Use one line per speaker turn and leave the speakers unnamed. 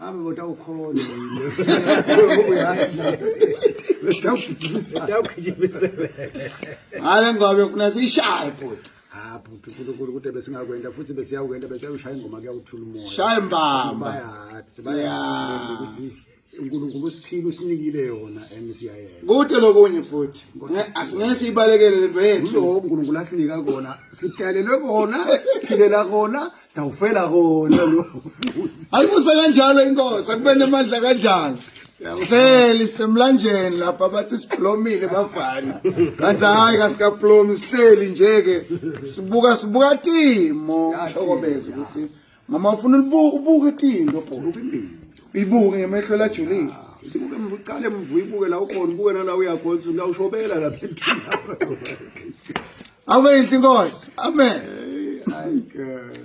Ave moda
ukhona Hale
ngobe ufuna sishaye bhuti. Ah bhuti uNkulunkulu
kude besingakwenda futhi besiyawukwenda besiyawushaya ingoma kuyawuthula umoya. Shaya mbamba.
Bayathi bayathi
ukuthi uNkulunkulu usiphile usinikile yona and siyayena. Kude lokunye
bhuti. Asingeke siyibalekele lento yethu. Lo uNkulunkulu asinika
kona. Sidalelwe kona, siphilela kona, Sitawufela kona lo futhi. Ayibuse kanjalo
inkosi akube nemandla kanjalo. Sihleli semlanjeni lapha bathi siblomile bafana. Kanti hayi kasikablomi sihleli nje ke sibuka sibuka timo shokomeza ukuthi mama ufuna ubuke tinto bho.
Ibuke ngemehlo
lajulile. Ibuke mvucale
mvuyibuke la ukhona ubuke nala uyakhonza la ushobela la phela.
Awe
inkosi.
Amen. Hey, ay girl.